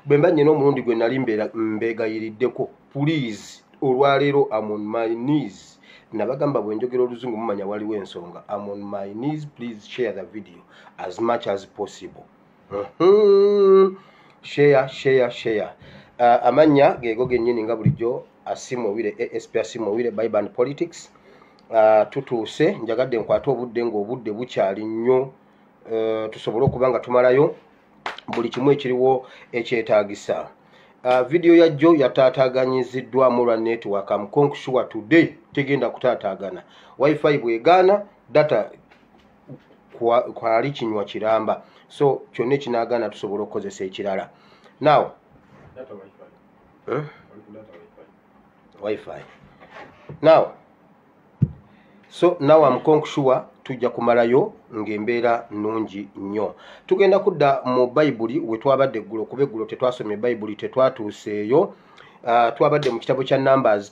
bwe mba nyina omulundi gwe nali mbegayiriddeko pulease olwaleero amon my news nabagamba bwe njogera oluzungu mumanya waliwo ensonga amon my news please share the video as much as possible share share share uh, amanya gego genyini nga bulijjo asimu wire asp asimu wire biban politics uh, tutuuse njagadde nkwate obudde ng'obudde bukyali nnyo uh, tusobole okuba nga tumalayo buli kimu ekiriwo ekyetaagisa uh, vidiyo ya jjo yataataaganyiziddwamu lwa network amkonksure today tegenda kutaataagana wifi bwegaana data kwali kinywa kiramba so kyonna ekinagaana tusobola okukozesa ekirala now wifi now so now am conksure tujja kumalayo ng'embeera nnungi nnyo tugenda kudda mu bayibuli we twabadde eggulo kuba eggulo tetwasomye bayibuli tetwatuuseeyo uh, twabadde mu kitabo kya numbers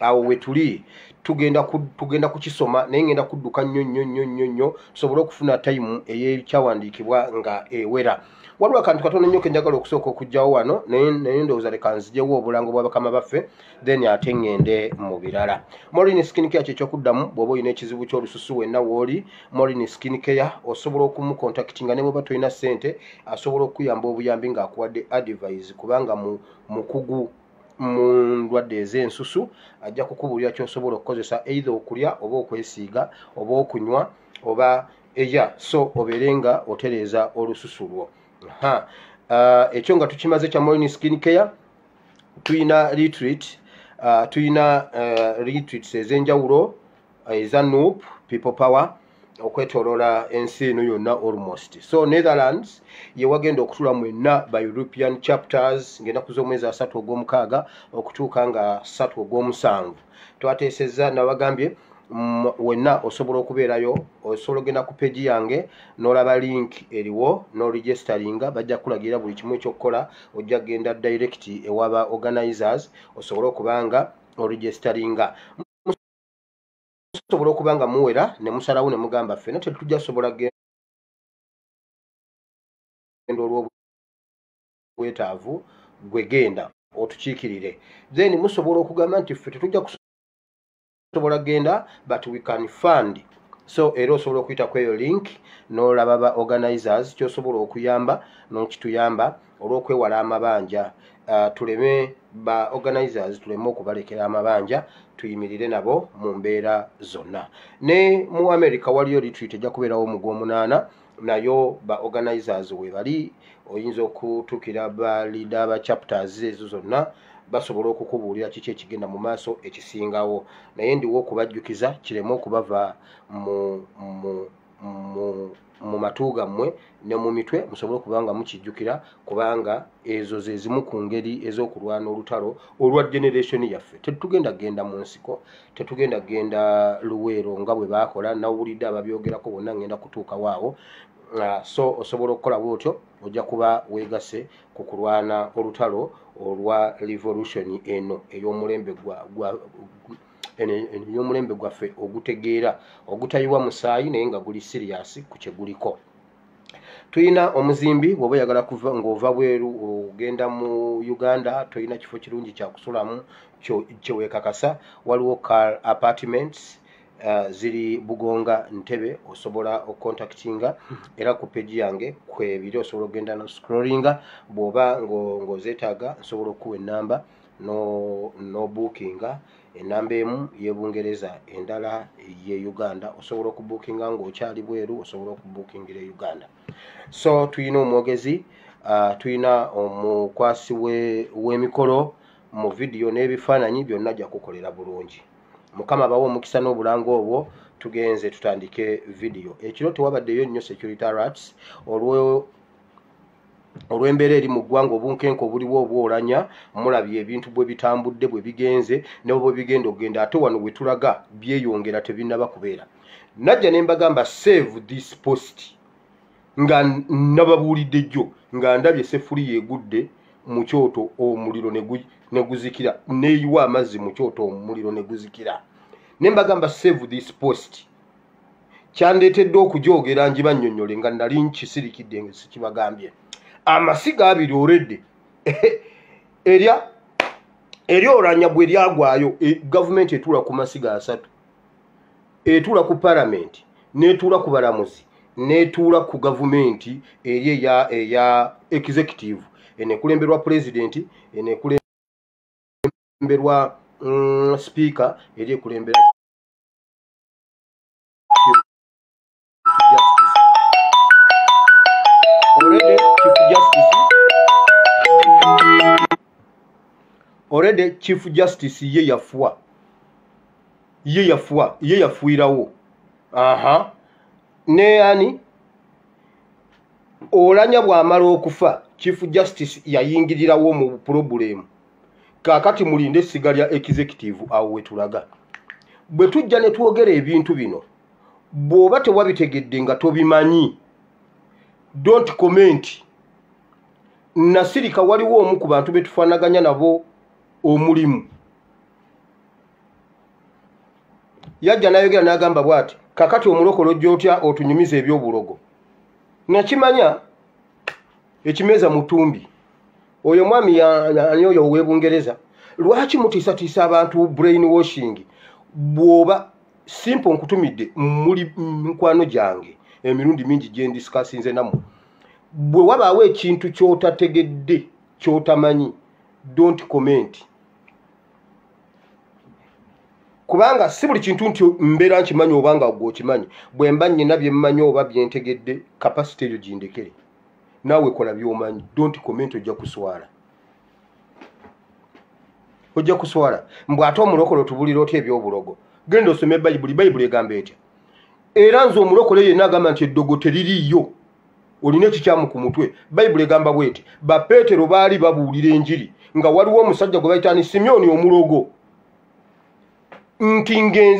awo wetuli tugenda ku, tugenda kukisoma naye ngenda kudduka nnyo nnyo nnyo nnyo nnyo tusobole okufuna tayimu eyekyawandiikibwa nga ewera waliwo akantu katono nnyo kenjagala okusooka okugjawo wano naye naye ndowooza leka nzijewo obulango bwa bakama baffe then ate ngende mu birala morin skin care kyekyokuddamu bw'oba olina ekizibu ky'olususu wenna wooli morin skin care osobola okumukontakiti nga ne bweba tolina ssente asobola okukuyamba obuyambi ng'akuwadde advise kubanga mu mukugu mu ndwadde ez'ensusu ajja kukubuulira kyosobola okukozesa eitha okulya oba okwesiiga oba okunywa oba eya so obeere nga otereeza olususu lwo ha uh, ekyo nga tukimaze kya morning skin care tulina retreat uh, tulina uh, retreats ez'enjawulo uh, eza noop people power okwetolola ensi eno yonna almost so netherlands yewagenda okutula mwenna by european chapters ngaenaku z'omwezi asatu ogw'omukaaga okutuuka nga satu ogw'omusanvu twateesezza nabagambye mm, wenna osobola okubeerayo osobola ogenda ku peji yange n'olaba link eriwo n'oregisteringa bajja kukulagira buli kimu ekyokukola ojja kugenda direct ewaba organizers osobole okubanga oregisteringa musobola okuba nga muwera ne musalawo ne mugamba ffena tetujja sobola genda olw'obwetaavu gwe genda otukiikirire then musobola okugamba nti ffe tetujja kusobola genda but we can fund so era osobola okuyita ku eyo link n'olaba ba organizers kyosobola okuyamba n'okituyamba olw'okwewala amabanja uh, tuleme ba organizers tuleme okubalekera amabanja tuyimirire nabo mu mbeera zonna ne mu america waliyo retreat ejja kubeerawo mu gw'omunaana nayo ba organizers webali oyinza okutuukira ba leader ba chapters ezo zonna basobola okukubuulira kiki ekigenda mu maaso ekisingawo naye ndiwo okubajjukiza kireme okubava mu, mu mu matu gammwe ne mu mitwe musobole okuba nga mukijjukira kubanga ezo ze zimu ku ngeri ez'okulwana olutalo olwa generation yaffe tetugenda kugenda mu nsiko tetugenda kugenda luweero nga bwe baakola nawulidde ababyogerako bonna ngenda kutuukawo awo ah, so osobola okukola bwotyo ojja kuba weegase ku kulwana olutalo olwa revolution eno ey'omulembe gwa ebyomulembe gwaffe ogutegeera ogutayiwa musaayi naye nga guli siriyasi ku kyeguliko tulina omuzimbi bwoba oyagala kuva ngaova bweru ogenda mu uganda tolina kifo kirungi kyakusulamu kyewekakasa waliwo car apartments uh, ziri bugonga ntebe osobola okontaktinga era ku peji yange kwebiri osobola okugenda no scrollinga bwoba ngozetaaga nsobola okukuwa enamba nobukinga enamba emu yebungereza endala ye uganda osobola okubukinga ngaokyali bweru osobola okubukingira e uganda so tulina omwogezi uh, tulina omukwasi wemikolo mu vidiyo n'ebifaananyi byonna jakukolera bulungi mukama bawa omukisa n'obulanga obwo tugenze tutandike vidiyo ekiro tewabaddeyo nnyo security rats olw olw'embeera eri mu ggwanga obunkenke obuliwo obwolanya mulabye ebintu bwe bitambudde bwe bigenze nebo bwe bigenda okugenda ate wano we tulaga byeyongera tebinnaba kubeera najja ne mbagamba save this post nga nababuulidde jjo nga ndabye sefuli yegudde mu kyoto omuliro ne guzikira neyiwa amazzi mu kyoto omuliro ne guzikira ne mbagamba save this post kyandeetedde okujoogera ngibannyonnyole nga nali nkisirikidde nga sikibagambye amasiga abiri oredde erya eryoranya bwe lyagwayo e, gavumenti etuula ku masiga asatu etuula ku palamenti n'etuula ku balamuzi n'etuula ku gavumenti eri eya eya executive enekulemberwa pulezidenti enekulemberwa mm, sipiika eri ekulembera already chief justice ye yafuwa ye yafuwa ye yafuirawo aha ne ani olanya bwamala okufa chief justice yayingirirawo mu problem kaakati mulinde essiga lya executive awo wetulaga bwe tujja ne twogera ebintu bino bw'oba tewabitegedde nga tobimanyi don't comment nasirika waliwo omu ku bantu betufaanaganya nabo omulimu yajja nayogera nagamba bwati kakati omulokolo ojja otya otunyumiza ebyobulogo nakimanya ekimeeza mutumbi oyo omwami yani oyo owebungereza lwaki mutiisatiisa abantu brain washing bwoba simple nkutumidde muli mikwano gyange emirundi mingi gyendisikasinze namu bwe wabaawo ekintu kyotategedde kyotamanyi don't comment kubanga si buli kintu nti mbeera nkimanyi obanga gwe okimanyi bwe mba nnina bye mmanyi oba byentegedde kapasite eyo gindekere naawe kola byomanyi don't comment ojja kuswala ojja kuswala mbw ate omulokole otubulira otya ebyobulogo genda osome bayibuli bayibuli egamba etya era nze omulokole yenna agamba nti eddogo teririiyo olina ekikyamu ku mutwe bayibuli egamba bweti bapeetero baali babuulira enjiri nga waliwo omusajja gwe bayitaani simyoni omulogo nti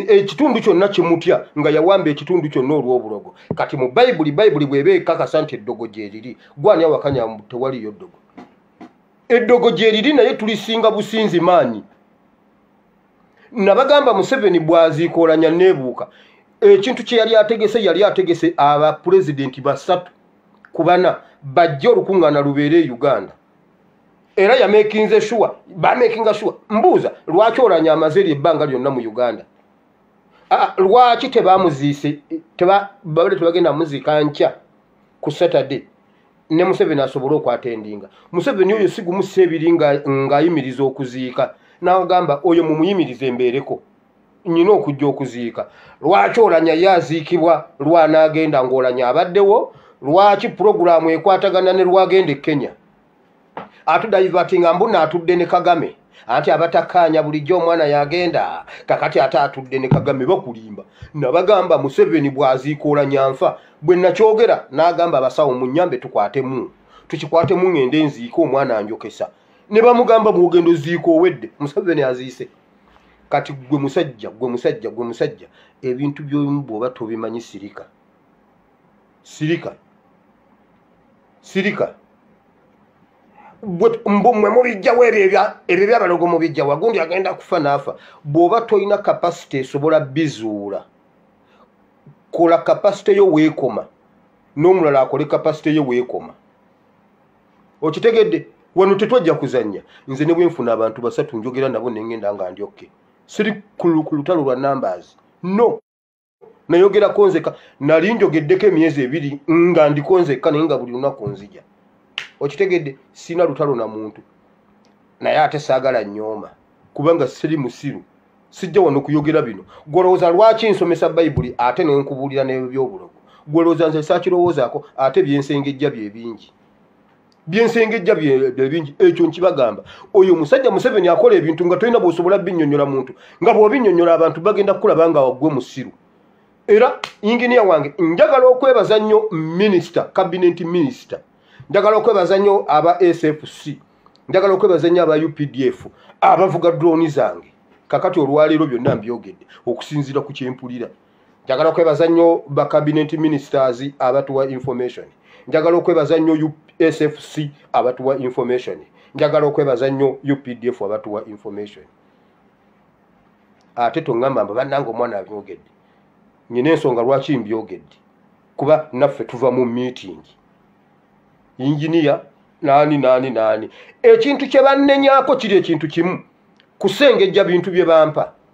ekitundu kyonna kimutya nga yawamba ekitundu kyonna olw'obulogo kati mu bayibuli bayibuli bweba ekakasa nti eddogo gyeriri gwani awakanya tewaliyo ddogo eddogo gyeriri naye tulisinga businzi maanyi nabagamba museveni bwaziikolanya nebuuka ekintu kye yali ategese yali ategese abapulezidenti basatu kubana bajja olukuŋŋaana lubeere e uganda era yamekinze shuwa bamekinga shuwa mbuuza lwaki olanya amaze eri ebbanga lyonna mu uganda lwaki tebamuziise babade tebagenda muziika nkya ku saturday ne museveni asobole okwata endinga museveni oyo sigumusa ebiri ngaayimiriza okuziika nagamba oyo mumuyimiriza embeereko nyina okujja okuziika lwaki olanya ye aziikibwa lwanaagenda ngaolanya abaddewo lwaki pulogulaamu ekwatagana ne lwagenda e kenya atudaivatinga mbu naatudde ne kagame anti abatakkaanya bulijjo omwana yagenda kakati ate atudde ne kagame bakulimba nabagamba museveni bwaziikoola nyanfa bwe nakyogera n'agamba abasawo mu nyambe tukwatemu tukikwatemu ng'ende enziika omwana anjokesa ne bamugamba bwogendo ziika owedde museveni aziise kati gwe musajja gwe musajja gwe musajja ebintu byolimu bw'oba tobimanyi sirika sirika sirika mwe mubijjawo ebyo ebyo byabalogo mubijjawo agundi agenda kufa naafa bw'oba tolina kapasite esobola bizuula kola kapasite yo weekoma n'omulala akole kapasite yo weekoma okitegedde wano tetwajja kuzannya nze ne bwenfuna abantu basatu njogera nabo nengenda nga ndyokke siri ku lutalo lwa numbers no nayogerako nzeka nali njogeddeko emyezi ebiri nga ndiko nzeka naye nga buli lunaku nzija okitegedde sina lutalo na muntu naye ate saagala nyooma kubanga siri musiru sijja wano kuyogera bino gwolowooza lwaki nsomesa bayibuli ate nenkubuulira nebyobulogo gwolowooza nze sakirowoozaako ate byensengejja byebingi byensengejja byebingi ekyo nkibagamba oyo musajja museveni akola ebintu nga tolina bwosobola binyonyola muntu nga bwobinyonyola abantu bagenda kukulaba nga wagwe musiru era inginiya wange njagala okwebaza nnyo minisita kabinet minisita njagala okwebaza nnyo aba sfc njagala okwebaza nnyo aba updf abavuga droni zange kakati olwaleero byonna mbyogedde okusinziira ku kyempulira njagala kwebaza nnyo ba cabinet ministers abatuwa information njagala okwebaza nnyo usfc abatuwa information njagala okwebaza nnyo updf abatuwa information ate toŋamba mba bannanga omwana abyogedde nyina ensonga lwaki mbyogedde kuba naffe tuva mu meeting yinginiya naani naani naani ekintu kye bannenyako kiri ekintu kimu kusengejja bintu bye bampa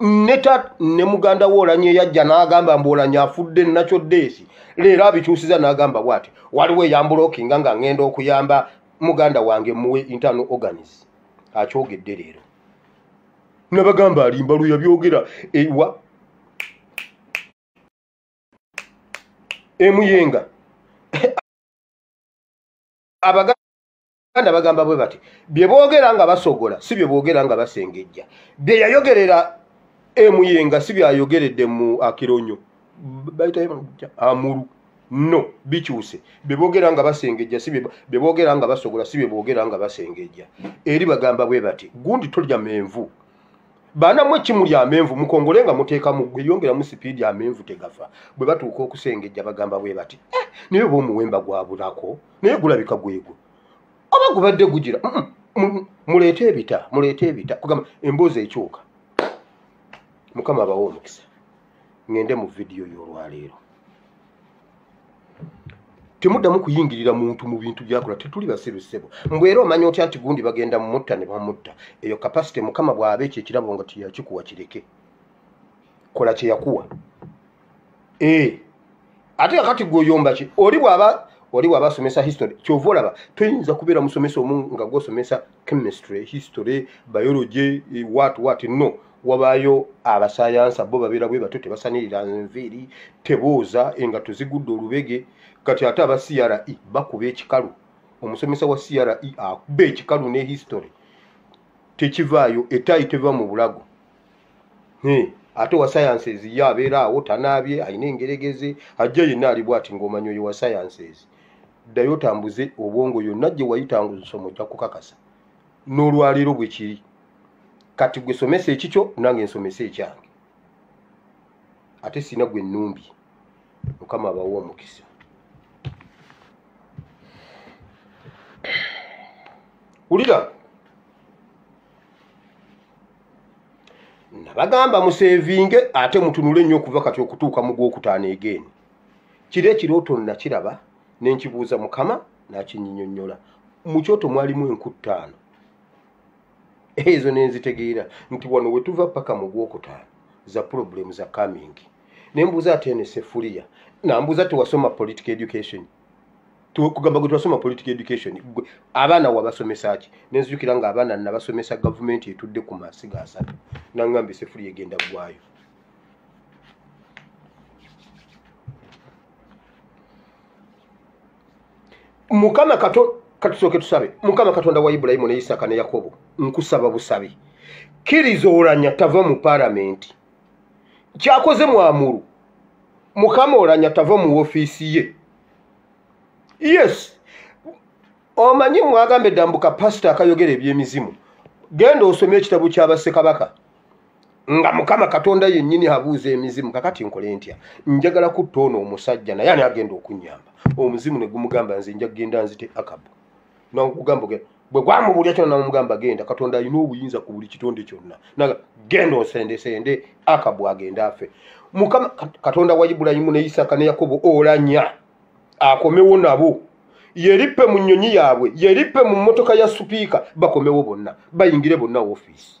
neta ne muganda we olanye yajja n'agamba mbu olanye afudde nakyo deesi leero abikyusiza n'agamba bwati waliwo eyambulokinga nga ngenda okuyamba muganda wange muwe internal organis akyogedde leero nabagamba alimba lwe yabyogera ewa emuyenga abaga abaganda bagamba bwe bati bye boogera nga basogola si bye boogera nga basengejja bye yayogerera emuyenga si byayogeredde mu akironyo amulu no bikyuse bye boogera nga basengejja si bye boogera nga basogola si bye boogera nga basengejja eri bagamba bwe bati gundi tolya menvu baana mwe kimu lya menvu mukongole nga muteekamu gwe yongeramu sipiidi amenvu tegafa bwe batuuka okusengejja bagamba bwe bati eh, naye oba omuwemba gwabulako naye gulabika gwegwo oba gubadde gugira muleete ebita muleete ebita kugamba emboozi ekyuka mukama abawa omukisa ŋende mu vidiyo y'olwaleero temuddamu kuyingirira muntu mu bintu byakola tetuli basiru ssebo mbu era omanya otya nti gundi bagenda mumutta ne bamutta eyo kapasite mukama bw'aba ekyo ekirabo nga tiyakikuwa kireke kola kye yakuwa eh. ate kakati gwoyomba ki oli bwaba oli bwaba asomesa history kyova olaba toyinza kubeera musomesa omu nga gwosomesa chemistry history biology eh, wat wat no wabaayo abasayansa bo babeera bwe batyo tebasanirira nviiri tebooza engato zigudde olubege kati ate aba cre bakuba ekikalu omusomesa wa cre akuba ekikalu ne history tekivaayo etaayi teva mu bulago ate owa sciences ye abeera awo tanaabye alina engeregeze ajja yenna ali bwati ng'omanyi oyo wa sciences ddayo otambuze obwongo yonna gye wayita nga ozisoma ojja kukakasa n'olwaleero bwe kiri kati gwe somesa ekikyo nange nsomesa ekyange ate sina gwe nnumbi mukama abawa omukisa wulira nabagamba musevinge ate mutunule nnyo okuva kati okutuuka mu gwokutaano egeeni kiro ekirooto nakiraba nenkibuuza mukama nakinyinyonyola mukyoto mwalimu enkuttaano ezo nenzitegeera nti wano wetuva paka mu gwokutaano za problemu za coming nembuuza ate nesefuliya nambuuza tewasoma political education kugamba gwe twasoma political education abaana wabasomesa ki nenzijukira nga abaana nabasomesa gavumenti etudde ku masiga asatu nangamba esefuli egenda gwayo mukama kato katusooke tusabe mukama katonda wa ibulayimu ne isaaka ne yakobo nkusaba busabi kiriza olanya tava mu paramenti kyakoze mwamuru mukama olanya tava mu ofiisi ye yes omanyi mwagambe dambuka pasita akayogera ebyemizimu genda osome ekitabo kyabassekabaka nga mukama katonda yennyini abuuza emizimu kakati nkole ntya njagala kutta ono omusajja naye ani agenda okunyamba omuzimu ne gumugamba nze nja kugenda nzite akabu nokugamba ogenda bwe gwamubuulira kyona namugamba genda katonda alina obuyinza ku buli kitonde kyonna naga genda osendesende akabu agenda afe mukama katonda wa ibulayimu ne isaka ne yakobo olanya akomewo nabo yerippe mu nnyonyi yaabwe yerippe mu mmotoka ya supiika bakomewo bonna bayingire bonna ofiisi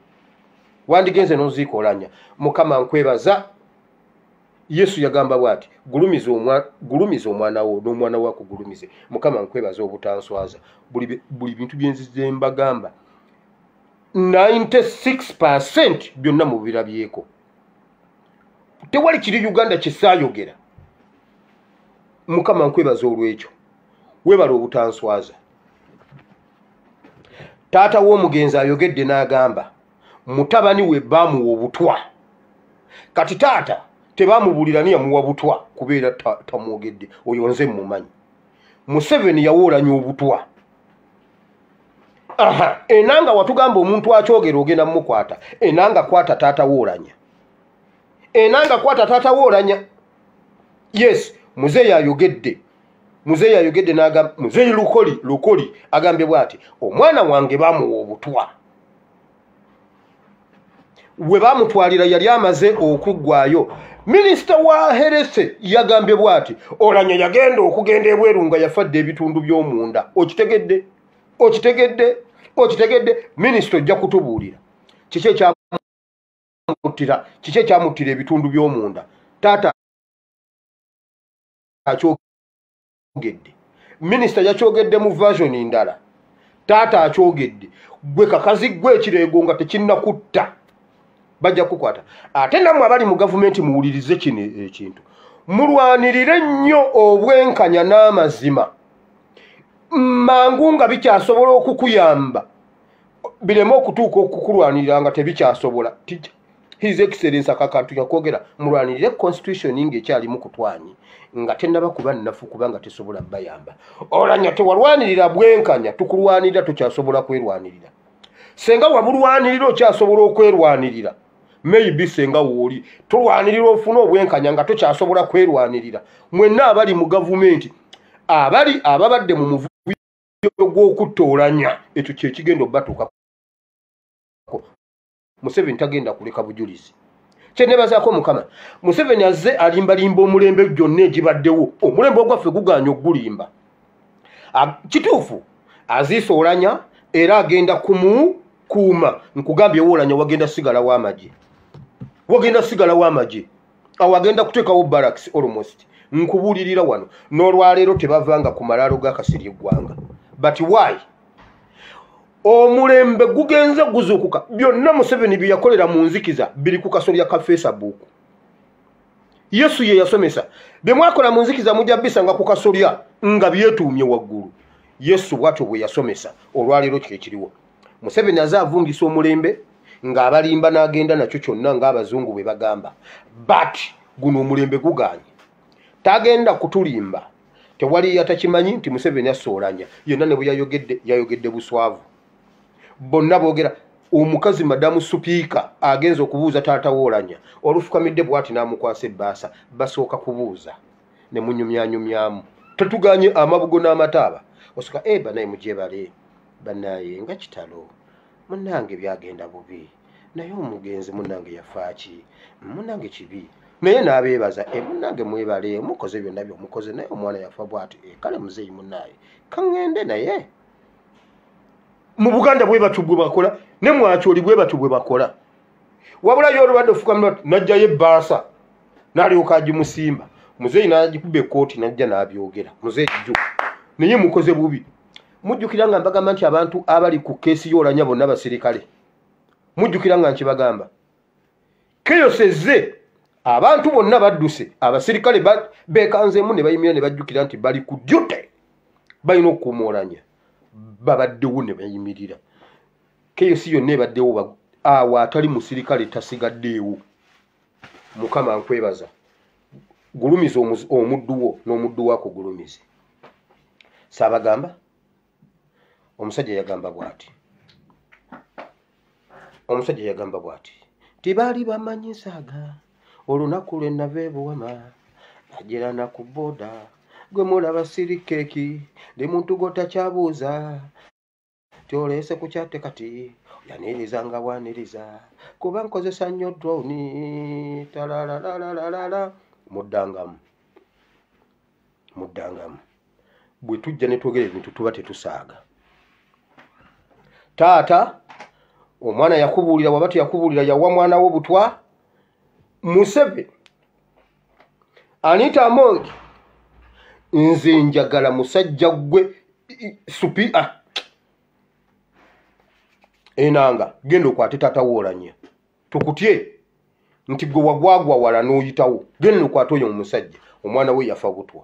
wandigenze nozikolanya mukama nkwebaza yesu yagamba bwati gulumiza omwana wo n'omwana wo akugulumize mukama nkwebaza obutanswaza buli bintu byenzize mbagamba 96 percent byonna mubirabyeko tewali kiri uganda kisayogera mukama nkwebaza olwekyo webala obutanswaza taata w'omugenzi ayogedde n'agamba mutabani we baamuwa obutwa kati taata tebamubuulira ni yamuwa butwa kubeera tamwogedde oyo nze mumanyi museveni yawoolanya obutwa aha enanga watugamba omuntu akyogera ogenda mumukwata enanga kwata taata woolanya enanga kwata taata woolanya yes muzeeyi ayogedde muzeeyi ayogedde nagamba muzeeyi lukoli lukoli agambye bwati omwana wange bamuwa obutwa we bamutwalira yali amaze okuggwayo minisita wa herese yagambye bwati olanya yagenda okugenda ebweru nga yafadde ebitundu by'omunda okitegedde okitegedde okitegedde minisita ojja kutubuulira kiki ekyamuttira kiki ekyamuttira ebitundu by'omunda taata akyogedde minisita yakyogedde mu version ndala taata akyogedde gwe kakazi gwe ekireego nga tekinnakutta bajja kukukwata ate nammwe abali mu gavumenti muwulirize kino ekintu mulwanirire nnyo obwenkanya n'amazima mangu nga bikyasobola okukuyamba bireme okutuuka okukulwanirira nga tebikyasobola his excellence akakantu yakwogera mulwanirire constitution nga ekyalimu kutwanyi nga tenaba kuba nnafu kubanga tesobola bayamba olanya tewalwanirira bwenkanya tukulwanirira tokyasobola kwerwanirira senga wabulwanirira okyasobola okwerwanirira maybe senga wooli tulwanirira ofuna obwenkanya nga tokyasobola kwerwanirira mwenna abali mu gavumenti abali ababadde mu muvuyo gw'okutta olanya ekyo kyekigenda obatuuka museveni tagenda kuleka bujulizi kyenebazaako mukama museveni azze alimbalimba omulembe gyonna egibaddewo omulembe ogwaffe guganya okugulimba kituufu aziisa olanya era agenda kumukuuma nkugambye woolanya wagenda sigalawo amagye wagenda sigalawo amagye awo agenda kuteekawo baraks almost nkubuulirira wano n'olwaleero tebavanga ku malaalo gakasiri eggwanga but why omulembe gugenze guzuukuka byonna museveni bye yakolera mu nzikiza biri ku kasolya ka facebook yesu ye yasomesa bye mwakola mu nzikiza mujja bisanga ku kasolya nga byetuumye waggulu yesu bwatyo bwe yasomesa olwaleero kyo ekiriwo museveni aze avungisa omulembe ng'abalimba n'agenda nakyo kyonna ng'abazungu bwe bagamba but guno omulembe guganye tagenda kutulimba tewali yatakimanyi nti museveni asoolanya yonna ne bweyayogedde yayogedde buswavu bonna boogera omukazi madamu supiika agenza okubuuza taata woolanya olufukamidde bwati n'amukwasa ebbaasa basooka kubuuza ne munyumyanyumyamu tetuganye amabugo n'amataaba osoka e eh, banaye mujebale banaye nga kitalo munange byagenda bubi naye omugenzi munange yafaaki munange kibi naye nabeebaza e eh, munange mwebale mukoze byonna byomukoze naye omwana yafa bwati e eh, kale muzeeyi munaaye kaŋŋende naye mu buganda bwe batyo bwe bakola ne mwakyoli bwe batyo bwe bakola wabula yo olubadde ofukamira najjayo ebbaasa nalyoka agimusimba muzeeyi nagikuba ekkooti najja nabyogera muzeeyi jju naye mukoze bubi mujjukira nga mbagamba nti abantu abali ku keesi yoolanya bonna basirikale mujjukira nga nkibagamba keyosezze abantu bonna badduse abasirikale bekanzeemu ne bayimira ne bajjukira nti bali ku jute balina okukuuma olanya babaddewo ne bayimirira keyosi yonna ebaddewo awo atali musirikale tasigaddeewo mukama nkwebaza gulumiza omuddu wo n'omuddu wako gulumize saabagamba omusajja yagamba bwati omusajja yagamba bwati tibaali bamanyi nsaaga olunaku lwe nava ebuwama ajerana ku boda gwe mulaba sirikeeki ndi muntu gwotakyabuuza tyoleese ku kyate kati yaniriza nga bwaniriza kuba nkozesa nnyo droni talalalalala muddangamu muddangamu bwe tujja ne twogera ebintu tuba tetusaaga taata omwana yakubuulira waba teyakubuulira yawa mwana wo butwa museveni anita among nze njagala musajja gwe supi ah. enanga genda okwate tata woolanya tukutye nti gwe wagwagwa wala n'oyitawo genda okwate oyo omusajja omwana we yafa butwa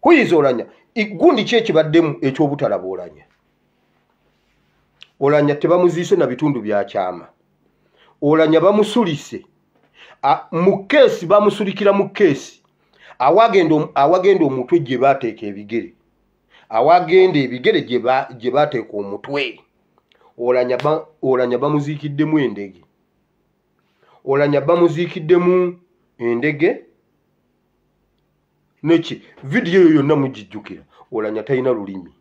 kuyinza olanya gundi ki ekibaddemu ekyobutalaba olanya olanya tebamuziise na bitundu byakyama olanya bamusulise mu keesi bamusulikira mu keesi awagenda omutwe gye bateeka ebigere awagenda ebigere gye bateeka omutwe olanya bamuziikiddemu endege olanya bamuziikiddemu endege neki vidiyo eyo yonna mugijjukira olanya talina lulimi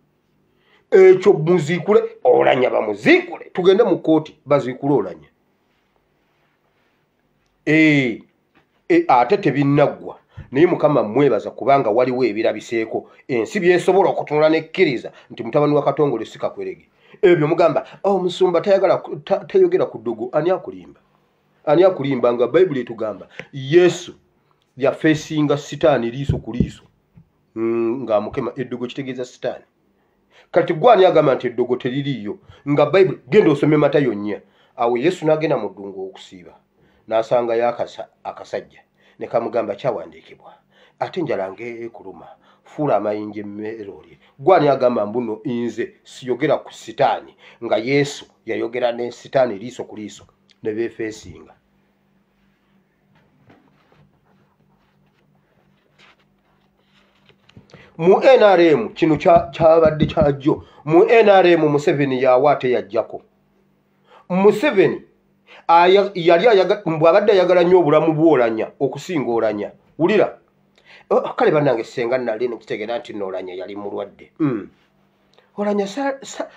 ekyo muziikule olanya bamuziikule tugende mu kooti baziikule olanya e, e, ate tebinaggwa naye mukama mwebaza kubanga waliwo ebirabiseeko ensi byesobola okutunula nekkiriza nti mutabani wa katongole sikakwerege ebyo mugamba omusumba oh, tayogera ku ddugu ani akulimba ani akulimba nga bayibuli etugamba yesu yafeesinga sitaani liiso ku liiso mm, ng'amukema eddogo kitegeeza sitaani kati gwani agamba nti eddogo teririiyo nga bayibuli genda osome matayo nnya awo yesu n'agenda mu ddungu okusiiba n'asangayo akasajja ne kamugamba kyawandiikibwa ate njala ngaekuluma fuula amayinja emmere olye gwani agamba mbuno nze siyogera ku sitaani nga yesu yayogera ne sitaani liiso ku liiso ne beefeesinga mu nrm kino kyabadde kyajjo mu nrm museveni yawa ate yajjako museveni yali bwabadde ayagala nnyo obulamu bwolanya okusinga olanya wulira oh, kale banange senga nali nekitegeera nti noolanya yali mulwadde hmm. olanya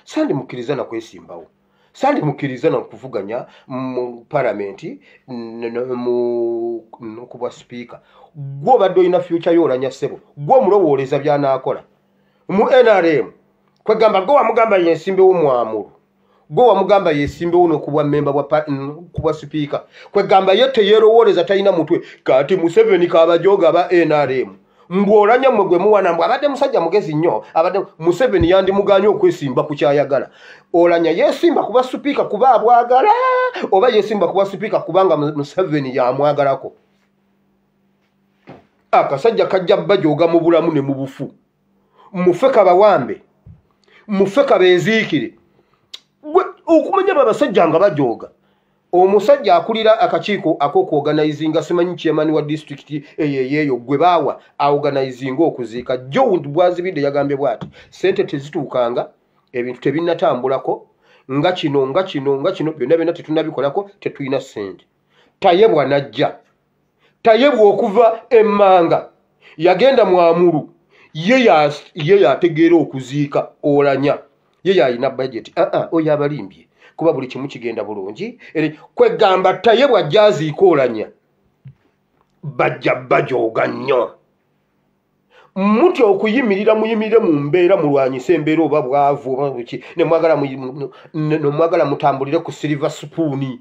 sandi mukkiriza nakwesimbawo sa, sa, sandi mukkiriza na kuvuganya mu palamenti nokubwa sipiika gwe obadde olina fyuca yo olanya ssebo gwe omulowooleza byanaakola mu nrm kwegamba gwe wamugamba yensimbewo mwamulu gwe wamugamba yesimbewo nokubwa mmemba kubwa sipiika kwegamba ye teyerowooleza talina mutwe kati museveni kabajoga aba nrm ng'olanya mwe gwe muwana mbu abadde musajja mugezi nnyo abadde museveni yandimuganye okwesimba ku kyayagala olanya yesimba kuba supiika kuba abwagala oba yesimba kuba supiika kubanga museveni yamwagalako akasajja kajja bajooga mu bulamu ne mu bufu mufe kabawambe mufe kabeziikire okumanya babasajja nga bajooga omusajja akulira akakiiko akokuoganizinga simanyi chairman wa disitulikiti eyo eyeeyo gwe baawa aoganizinga okuziika jowunt bwazibidde yagambye bwati sente tezituukanga ebintu tebinatambulako nga kino nga kino nga kino byonna byonna tetunabikolako tetulina sente tayebwa najja tayebwa okuva emmanga yagenda mwamulu ye yategeera okuziika olanya ye yalina bajeti aa ah, ah, oyo abalimbye kuba buli kimu kigenda bulungi kwegamba tayebwa jaziika olanya bajja bajooga nnyo mutya okuyimirira muyimirire mu mbeera mulwanyise embeera oba bwavu oba buki nemwagala mutambulire ku silver supuuni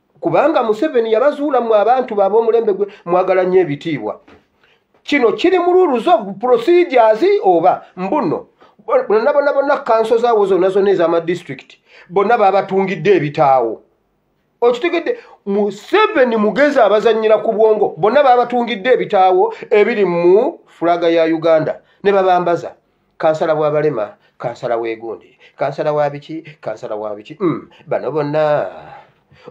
kubanga museveni yabazuula mwe abantu baaba omulembe gwe mwagala nnyo ebitiibwa kino kiri mu rules of procedures oba mbuno bonna bonna bonna kanso zaawo zonna zonna ez'amadistrict bonna babatungidde ebitaawo okitegedde museveni mugezi abazanyira ku bwongo bonna babatungidde ebitaawo ebiri mu fulaga ya uganda ne babambaza kansala wa balema kansala w'egundi kansala wa biki kansala wa biki mm, bano bonna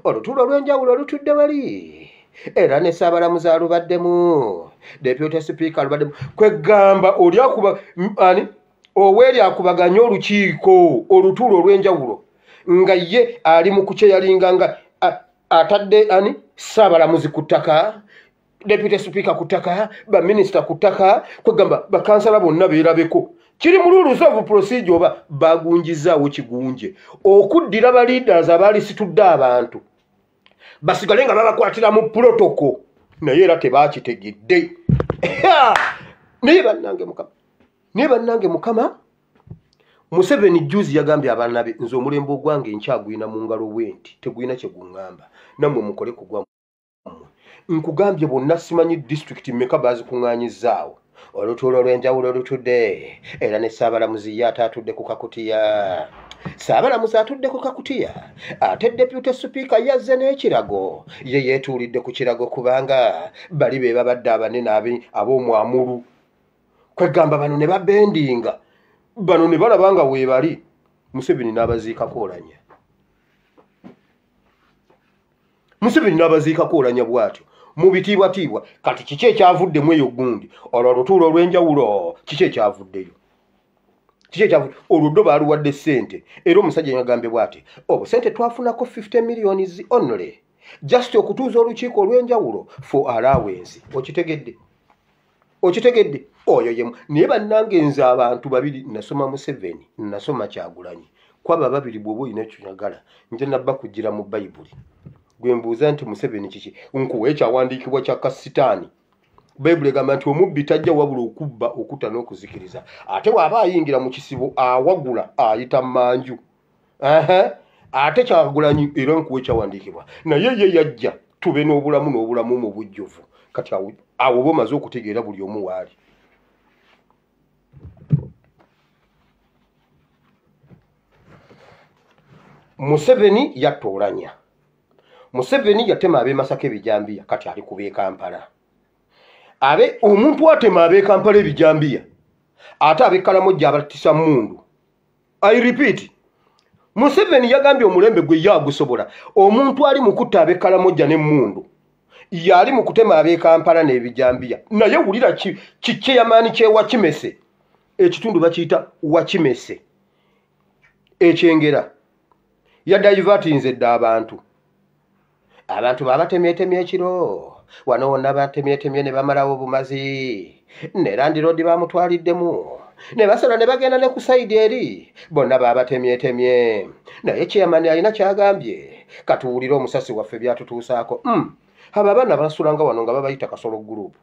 olutuula olw'enjawulo olutudde wali era ne ssaabalamuzi alubaddemu deputy sipiika alubaddemu kweggamba oli akuba ani oweeri akubaganye olukiiko olutuula olw'enjawulo nga ye ali mu kukyeyalinga nga atadde ani ssaabalamuzi ku ttaka deputy speaker ku ttaka baminisita ku ttaka kwegamba bakansala bonna beerabeko kiri mu luulusa ovu procedure oba bagunjizaawo kigunje okuddira ba leaders abalisitudde abantu basigale nga babakwatira mu protocol naye era tebakitegedde naye bannange mukama naye bannange mukama museveni juzi yagambye abaana be nze omulembe ogwange nkyagwina mu ngalo bwenti tegwina kye guŋŋamba nammwe mukole kugwa nkugambye bonna simanyi disitulikiti mmeka baazikuŋŋaanyizzaawo olutuula olw'enjawulo olutudde era ne ssaabalamuzi ye ate atudde ku kakutiya ssaabalamuzi atudde ku kakutiya ate depute sipiika yazze n'ekirago ye yeetuulidde ku kirago kubanga bali be babadde abanene ab'omwamulu kwegamba bano ne babendinga bano ne balaba nga weebali museveni n'abaziikako olanya museveni n'abaziikako olanya bwatyo mu bitiibwatiibwa kati kiki ekyavuddemu eyo gundi olwo olutuula olw'enjawulo kiki ekyavuddeyo kiki ekyavudde olwo ddo baaluwadde ssente era omusajja yagambye bwati obusente twafunako 50 millions only just okutuuza olukiiko olw'enjawulo for alawensi okitegedde okitegedde oyo yemu naye bannange nze abantu babiri nasoma museveni nasoma kyagulanyi kwaba babiri bwoba olina kyoyagala nja nabba kugira mu bayibuli gwembuuza nti museveni kiki nkuwa ekyawandiikibwa kya kasitaani bayibuli egamba nti omubbi tajja wabula okubba okutta n'okuzikiriza ate waaba ayingira mu kisibo awagula ayita manju ate kyagulanyi era nkuwa ekyawandiikibwa naye ye yajja tube n'obulamu n'obulamu mu bujjuvu kati awo oba omaze okutegeera buli omu waali museveni yatta olanya museveni yatema abemasaka ebijambiya kati ali kubekampala abe omuntu atema abekampala ebijambiya ate abekalamu jja abatisa mundu i repeat museveni yagambye omulembe gwe ye agusobola omuntu ali mu kutta abekalamoja n'emmundu yali mu kutema abekampala n'ebijambiya naye wulira kikyeyamaani kyewakimese ekitundu bakiyita wakimese ekyengera yadayivatinze dda abantu abantu babatemyetemye ekiro wano wonna batemyetemye ne bamalawo obumazi ne landiroodi bamutwaliddemu ne basala ne bagenda ne ku sayidi eri bonna babatemyetemye naye kyeyamani alina kyagambye katuwulire omusasi waffe byatutuusaako hmm. abo abaana basulanga wano nga babayita kasolo gurupu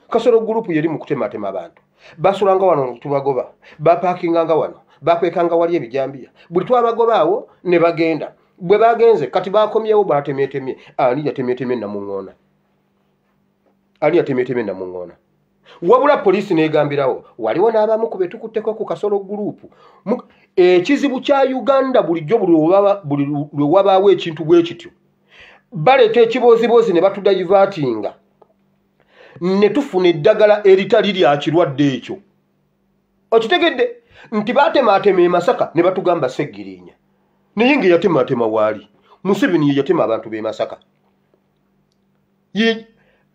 kasolo gurupu yeri mu kutematema abantu basulanga wano tubagoba bapakinganga wano bakwekanga wali ebijambiya buli twabagobaawo ne bagenda bwe bagenze kati bakomyewo batemetemye ani yatemetemye namuŋoona ani yatemetemye namuŋoona wabula poliisi negambirawo waliwo n'abamu ku betukutteko ku kasolo gurupu ekizibu kya uganda bulijjo buli lwe wabaawo ekintu bwe kityo baleeta ekibooziboozi ne batudayivatinga ne tufuna eddagala eritali lya kirwadde ekyo okitegedde nti batemaatema emasaka ne batugamba seggirinya naye nga eyatemaatema waali museveni ye yatema abantu b'e masaka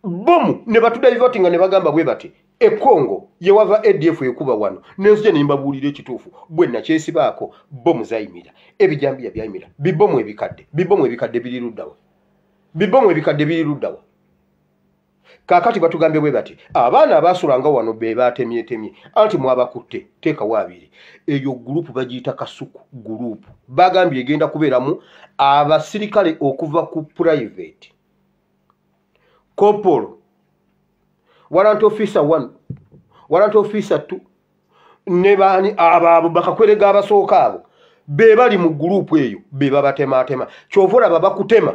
bomu ne batudaivaati nga ne bagamba bwe bati ekongo yewava adf ekuba wano nenzija nembabuulira ekituufu bwe nakyesibaako bomu zayimira ebijambiya byayimira bibomu ebikadde bibomu ebikadde biriruddawa bibomu ebikadde biriruddawa kaakati batugambye bwe bati abaana abaasulanga wano be baatemyetemye anti mwabakutte teekawo abiri eyo gurupu bagiyita kasuku gurupu bagambye egenda kubeeramu abasirikale okuva ku purayiveti kopolo waranti ofiisa one waranti ofiisa two ne baani abo abo bakakwerega abasooka abo be bali mu gurupu eyo be babatemaatema kyova olaba bakutema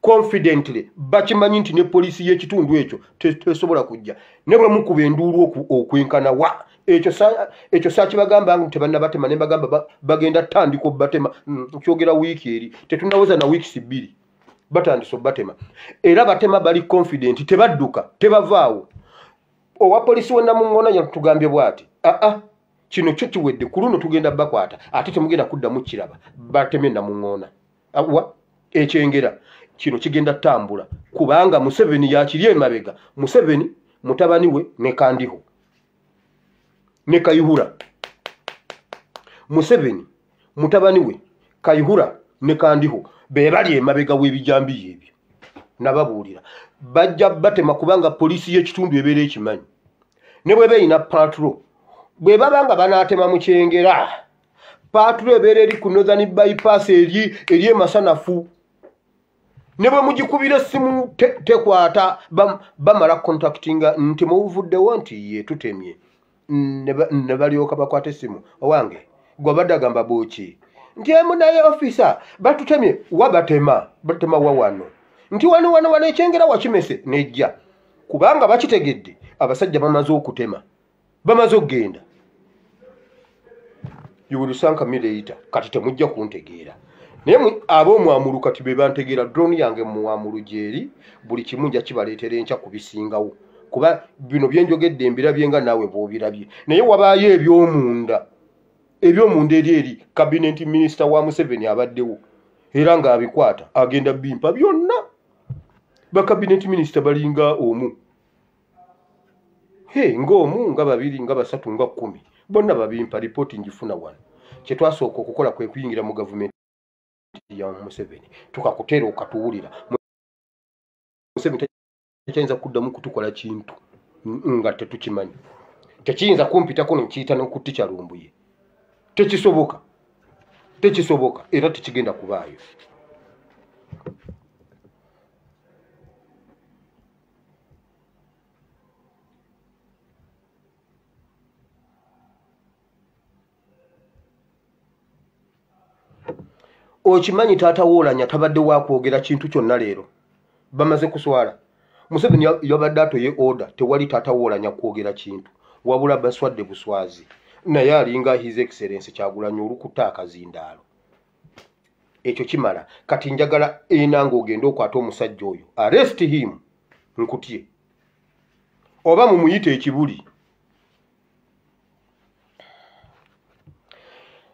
confidently bakimanyi nti ne poliisi y'ekitundu ekyo tesobola kujja ne bwe mukuba enduulu okwenkana wa ekyo sakibagamba nti tebannabatema ne bagamba bagenda tandika obubatema mm, kyogera wiiki eri tetunawoza na wiikisi bbiri batandise obubatema era batema bali confident tebadduka tebavaawo owa poliisi wenamuŋona yatugambye bwati aa ah, ah, kino kyo kiwedde ku luno tugenda bakwata ate temugenda kuddamu kiraba bateme namuŋona awa ekyengera kino kigenda tambula kubanga museveni yakiri emabega museveni mutabani we ne kandiho ne kayihura museveni mutabani we kayihura ne kandiho bebali emabega w'ebijambiya ebyo nababuulira bajja batema kubanga poliisi y'ekitundu ebeera ekimanyi ne bweba erina patro bwe baba nga banaatema mu kyengera paatulo ebeera eri ku northern bypass eri eri emasanafu ne bwe mugikubira essimu tekwata bamala contactinga nti mubuvuddewo nti ye tutemye ne balyoka bakwata essimu owange gwe badagamba buki nti emu naye ofisa batutemye wa batema batema wa wano nti wano wano wano ekyengera wakimese nejja kubanga bakitegedde abasajja bamaze okutema bamaze okugenda yuwulusanka mireita kati temujja kuntegeera naye ab'omwamulu kati be bantegeera drone yange mumwamulu gyeri buli kimu nja kibaleetera enkya ku bisingawo kuba bino byenjogedde mbirabye nga naawe bwobirabye naye wabaayo ebyomunda ebyomunda eri eri kabineti minisita wa museveni abaddewo era ng'abikwata agenda bimpa byonna bakabineti minisita balinga omu ng'omu nga babiri nga basatu nga kkumi bonna babimpa lipooti ngifuna wano kye twasooka okukola kwe kuyingira mu gavumenti ya museveni tukakuteera okatuwulira tekyayinza kuddamu kutukola kintu nga tetukimanyi tekiyinza kumpitako nekiyita nokutti kyalumbuye tekisoboka tekisoboka era tekigenda kubaayo okimanyi taata woolanya tabadde wakwogera kintu kyonna leero bamaze kuswala museveni yabadde atoye oda tewali taata woolanya kwogera kintu wabula baswadde buswazi naye alinga his excellence kyagulanyi olukuta akazindaalo ekyo kimala kati njagala enanga ogende okwata omusajja oyo arrest him nkutye oba mumuyita ekibuli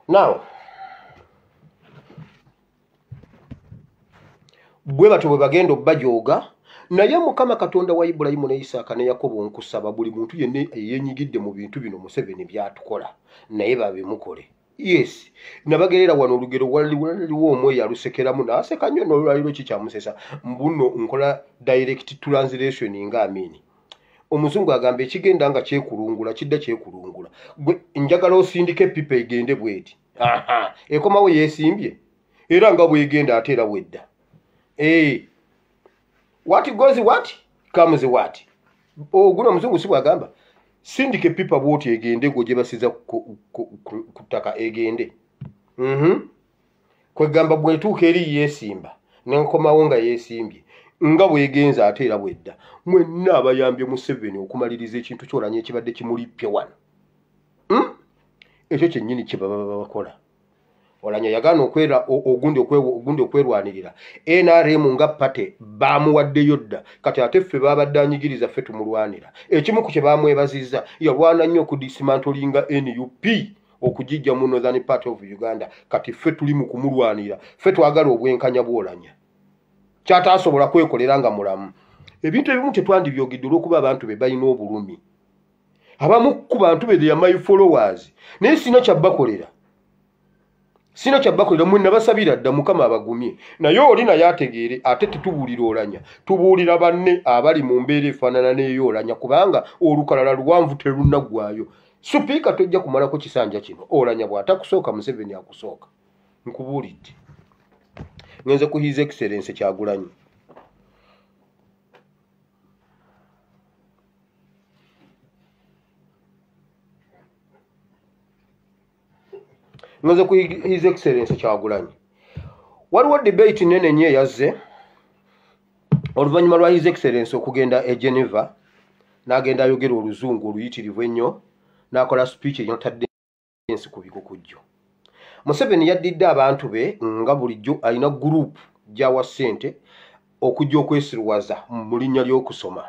now bwe batyo bwe bagenda obbajooga naye mukama katonda wa ibulayimu ne isaaka ne yakobo nkusaba buli muntu yenna eyenyigidde mu bintu bino museveni byatukola naye babimukole yes nabagerera wano olugero waliwo omu eyalusekeramu naaseka nnyo nolwaliro kikyamusesa mbuno nkola direct translation nga amini omuzungu agamba ekigenda nga kyekulungula kidda kyekulungula gwe njagala osindika epipa egende bweti ekomawo yesimbye era nga bwegenda ate era bwedda ee eh. what goes what comes what oguno omuzungu si bwagamba sindika epipa bwoti egende gwe gyebasiza ku ttaka egende mhm. kwegamba bwetuuka eri yeesimba nenkomawo nga yeesimbye nga bwegenza ate era bwedda mwenna abayambye museveni okumaliriza ekintu kyolanya ekibadde kimulippye wano hmm? ekyo kyennyini kyebababa bakola olanya yagaana okwera ogundi ogundi okwerwanirira nrm nga pate bamuwaddeyo dda kati ate ffe babadde anyigiriza ffe tumulwanira ekimu ku kye bamwebaziza yalwana nnyo okudisimantlinga nup okugijja mu northern part of uganda kati ffe tuli mu kumulwanira ffe twagala obwenkanya bwolanya kyataasobola kwekolera nga mulamu ebintu ebimu tetwandibyogedde olwokuba abantu be balina obulumi abamu ku bantu be their my followers naye sina kyabakolera sina kyabakolera mwe nabasabira dda mukama abagumye naye oli naye ategeere ate tetubuulira olanya tubuulira banne abali mu mbeera efaanana neyo olanya kubanga olukalala luwanvu terunaggwayo supiika tojja kumalako kisanja kino olanya bw'atakusooka museveni akusooka nkubuulidde ngenze ku his excellence kyagulanyi nze ku his excellence kyagulanyi waliwo debate nene nyo eyazze oluvannyuma lwa his excellence okugenda e geneva n'agenda ayogera oluzungu oluyitirivu ennyo n'akola speech enyotadde ensi ku bikukujju museveni yaddidde abantu be nga bulijjo alina guruupu gyawa ssente okujja okwesiruwaza mu linnya ly'okusoma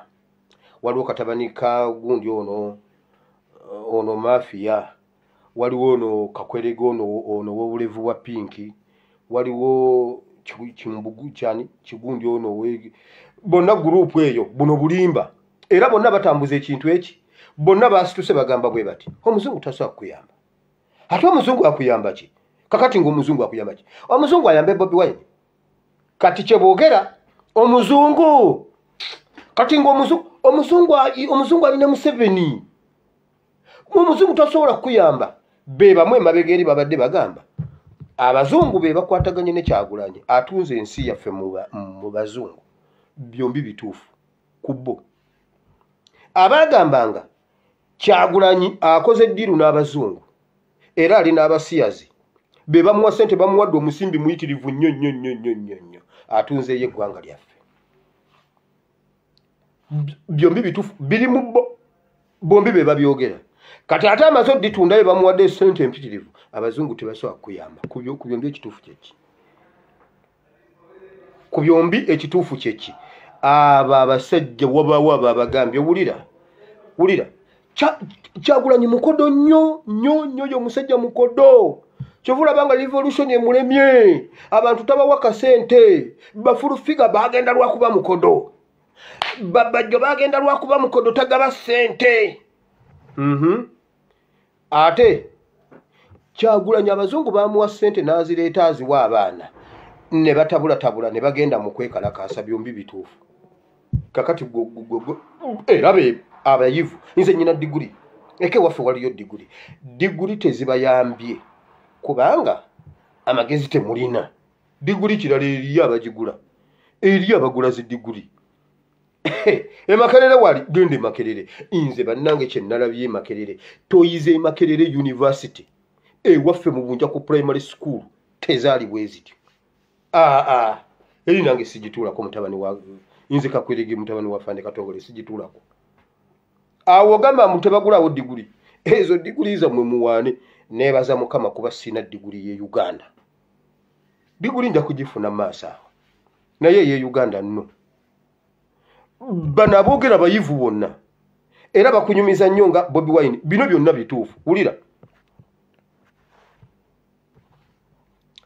waliwo katabani ka gundi ono ono mafiya waliwo ono kakwerega ono ono wobulevu bwa pinki waliwo kimbugu kyani kigundi ono bonna guruupu eyo buno bulimba era bonna batambuza ekintu eki bonna basituse bagamba bwe bati omuzungu tasobola kukuyamba ate omuzungu akuyamba ki kakati ngaomuzungu akuyamba ki omuzungu ayambe bobi wine kati kyeboogera omuzungu kati ngaomuzungu omuzungu ali ne museveni omuzungu tasobola kukuyamba bebamu emabega eri babadde bagamba abazungu be bakwataganye nekyagulanye atunze ensi yaffe mu bazungu byombi bituufu ku bo abaagambanga kyagulanyi akoze ddiiru n'abazungu era ali n'abasiyazi be bamuwa sente bamuwadde omusimbi muyitirivu nnyo nnyo nnyo nnyo nnyo nnyo atunzeeyo eggwanga lyaffe byombi bitufu biri mu bo bombi be babyogera kati ate amaze oditunda be bamuwadde sente empitirivu abazungu tebasobola kuyamba ku byombi ekituufu kyeki ku byombi ekituufu kyeki abo abasajja wabaawo abo abagambye wulira wulira kyagulanyi mukodo nnyo nnyo nnyo yo musajja mukodo kyovulaba nga revolution emulemye abantu tabawa kasente bafulufiga bagenda lwakuba mukodo babajjo bagenda lwakuba mukodo tagaba sente mm -hmm. ate kyagulanyi abazungu bamuwa sente nazireeta aziwa abaana ne batabulatabula ne bagenda mu kwekalakaasa byombi bituufu kakati era be abayivu nze nyina diguli eke waffe waliyo diguli diguli tezibayambye kubanga amagezi temulina diguli kirala eriyo abagigula eriyo abagula zi diguli emakerere wali genda emakerere nze bannange kyenalabye emakerere toyize emakerere univesity ewaffe mu bunja ku primary school tezaali bwezityo aa ah, ah. eri nange sigituulako mutabani wa nze kakwirigi mutabani wa fande katongole sigituulako awo gamba mbu tebagulawo diguli ezo diguli zammwe muwaane nebaza mukama kuba sina diguli ye uganda diguli nja kugifuna maaso awo naye ye uganda nno bano aboogera abayivu bonna era bakunyumiza nnyo nga bobi wine bino byonna bituufu wulira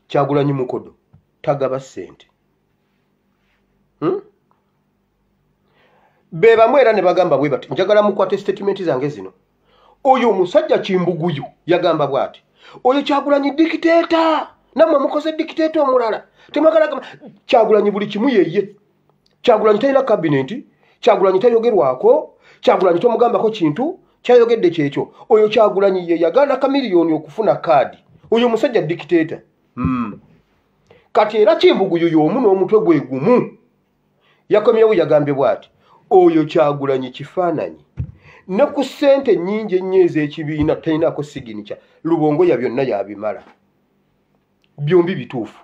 kyagulanyi mukodo tagaba ssente hmm? be bamu era ne bagamba bwe bati njagala mukwate sitatimenti zange zino oyo omusajja kimbuguyu yagamba bwati oyo kyagulanyi dikiteeta namwe mukoze dikiteeta omulala temwagala gamba kyagulanyi buli kimu yeye kyagulanyi talina kabineti kyagulanyi tayogerwako kyagulanyi tomugambako kintu kyayogedde kyekyo oyo kyagulanyi ye yagaana kamiliyoni okufuna kaadi oyo omusajja dikiteeta hmm. kati era kimbuguyu yomu n'omutwe gwe gumu yakomyewo yagambye bwati oyo kyagulanyi kifaananyi ne ku ssente nnyingi ennyo ez'ekibiina talinaako siginica lubongoya byonna yabimala byombi bituufu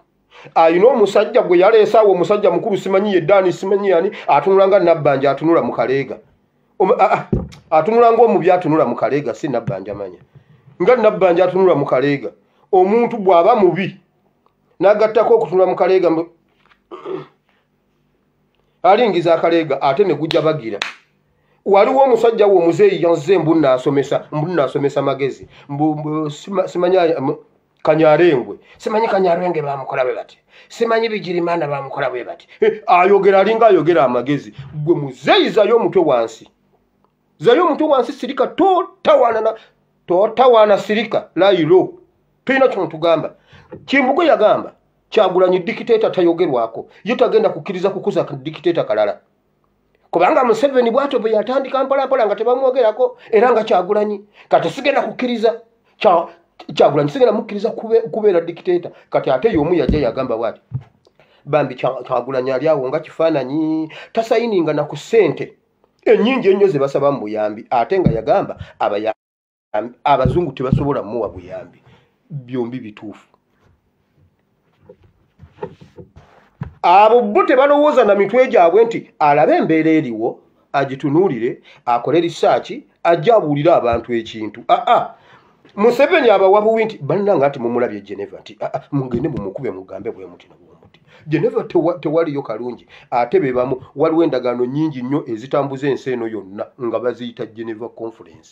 alina omusajja gwe yaleesaawo omusajja mukulu simanyi yeddaani simanyi yani atunula nga nabbanja atunula mu kaleega atunula ngaomubi atunula mu kaleega si nabbanja manya nga nabbanja atunula mu kaleega omuntu bw'aba mubi nagattako okutunula mu kaleega alingiza akaleega ate ne gujja bagira waliwo omusajja wo omuzeeyi yanze mbu naasomesa mbu naasomesa magezi simanyi kanyarengwe simanyi kanyarenge bamukola bwe bati simanyi bigirimana bamukola bwe bati eh, ayogera alinga ayogera amagezi gwe muzeeyizayo omutwe wansi zayo omutwe wansi sirika totawanana totawana sirika layiro tulina kino tugamba kimbugu yagamba kyagulanyi dikiteta tayogerwako ye tagenda kukkiriza kukuza dikiteta kalala kubanga museveni bwatyo bwe yatandika mpolampola nga tebamwogerako era nga kyagulanyi kati sigenda kukkiriza kyagulanyi sigenda mukkiriza kubeera dikiteta kati ate yomu yajja yagamba bwati bambi kyagulanyi ali awo nga kifaananyi tasayininga na ku ssente ennyingi ennyo ze basaba mu buyambi ate nga yagamba abazungu tebasobola muwa buyambi byombi bituufu abo bo tebalowooza na mitwe gyabwe nti alabe embeera eriwo agitunuulire akole risaaki ajja abuulire abantu ekintu aa ah, ah. museveni abawa buwi nti bannanga nti mumulabye geneva nti ah, ah, mugende mumukube mugambe bwe muti nabwomuti geneva tewaliyo kalungi ate bebamu waliwo endagaano nyingi nnyo ezitambuza ensi eno yonna nga baziyita geneva conference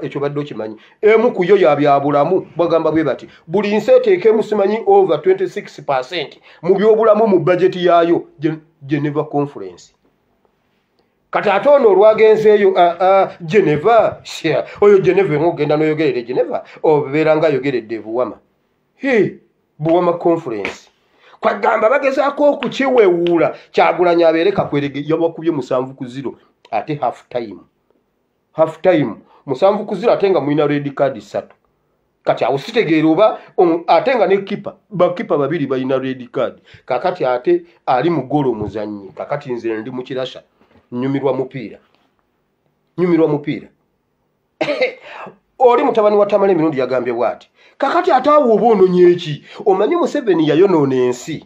ekyo badde okimanyi emu ku yo yabyabulamu bagamba bwe bati buli nsi eteekemu simanyi over 26 percent mu byobulamu mu bajeti yaayo geneva conference kati ate ono olwagenzeeyo ah, ah, geneva oyo geneva emu ogenda noyogerera e geneva obeera nga ayogeredde ebuwama buwama conference kwagamba bagezaako okukiwewuula kyagulanyi abeere kakwerege yabakubye musanvu ku ziro ate half time half time musanvu kuzira ate nga mulina red card ssatu kati awo sitegeera oba ate nga ne kipa bakipa babiri balina red card kakati ate ali mu golo omuzannyi kakati nze ndi mu kirasa nyumirwa mupiira nyumirwa mupiira oli mutabani wa tamala emirundi yagambye bwati kakati ate awo oba ononye eki omanyi museveni yayonoona ensi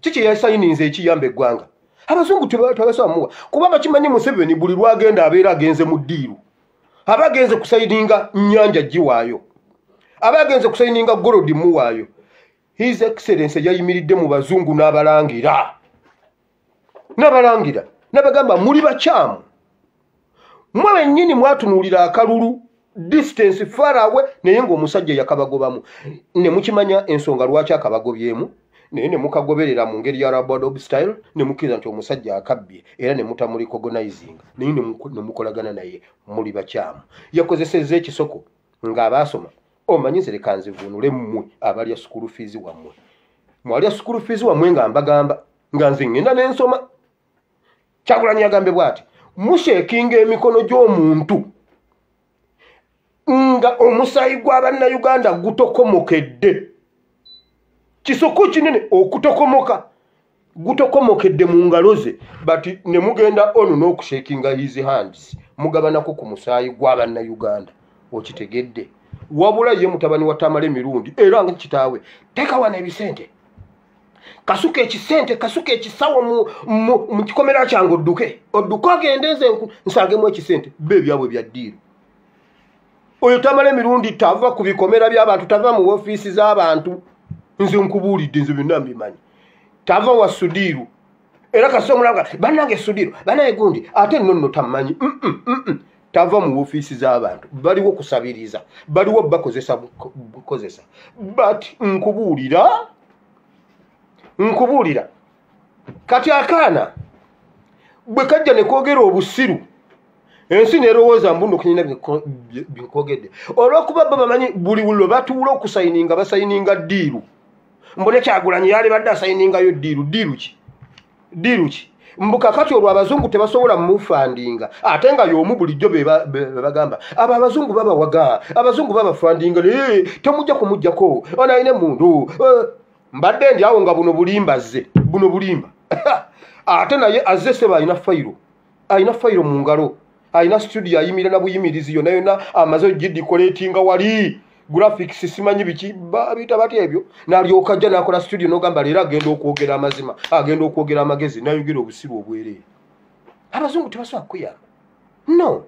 kiki yasayininze ekiyamba eggwanga abazungu tebasaba muwa kuba bakimanyi museveni buli lwagenda abeera agenze mu ddiiru aba agenze kusayininga nnyanja giwaayo aba agenze kusayininga golodi muwaayo his excellence yayimiridde mu bazungu n'abalangira nabalangira nabagamba muli bakyamu mwe bennyini mwatunuulira akalulu distance farawe naye ngaomusajja yakabagobamu nemukimanya ensonga lwaki akabagobyemu naye nemukagoberera mu ngeri ya rabadob style nemukiriza nti omusajja akabbye era nemutamulicogonizing naye nemukolagana naye muli bakyamu yakozeseza ekisoko ngaabaasoma omanyi nzerekanzivuunule mmwe abalya sukulu fiizi wammwe mwalya sukulu fiizi wammwe nga mbagamba nga nze ŋŋenda ne nsoma kyagulanyi yagambe bwati mushekinga emikono gy'omuntu nga omusaayi gwa bannayuganda gutokomokedde kisoko kinene okutokomoka gutokomokedde mu ngalo ze but ne mugenda ono n'okushekinga his hands mugabanako ku musaayi gwa bannayuganda okitegedde wabula ye mutabani wa tamale mirundi era nga kitaawe tekawana ebisente kasuka ekisente kasuka ekisawo mu kikomera kyange odduke odduke ogende nze nsangemu ekisente be ebyabwe bya ddiiro oyo tamala emirundi tava ku bikomera by'abantu tava mu ofiisi z'abantu nze nkubuulidde nze byonna mbimanyi tava wa sudiiru era kasita omulanga banange sudiro banaye gundi ate nonno tammanyi mm, mm, mm, tava mu ofiisi z'abantu baliwo kusabiriza baliwo bakozesa bukozesa but nkubuulira nkubuulira kati akaana bwe kajja ne kwogera obusiru ensi nerowooza mbuno kunyina byekwogedde olwokuba bo bamanyi buli wulo batuula okusayininga basayininga diiru mbone kyagulanyi yalibadde asayiningayo diiru diiru ki diiru ki mbu kakati olwo abazungu tebasobola mufandinga ate nga yomu bulijjo bebagamba abo abazungu babawaga abazungu babafandinga naye temujja kumujjako onalina emundu eh, mbadde ndi awo nga buno bulimba zze buno bulimba ate naye azze seba alina fayiro alina fayiro mu ngalo alina studio ayimira na buyimirizi yona yona amaze ogidikoletinga wali graphics simanyi biki babita bati ebyo nalyoka ajja nakola studio nogamba leero agenda okwogera amazima agenda okwogera amagezi nayogera obusiru obwereere abazungu tebasobola kukuyamba no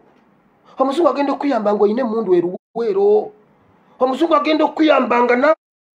omuzungu agenda okukuyamba nga olina emundu eruweero omuzungu agenda okukuyamba nga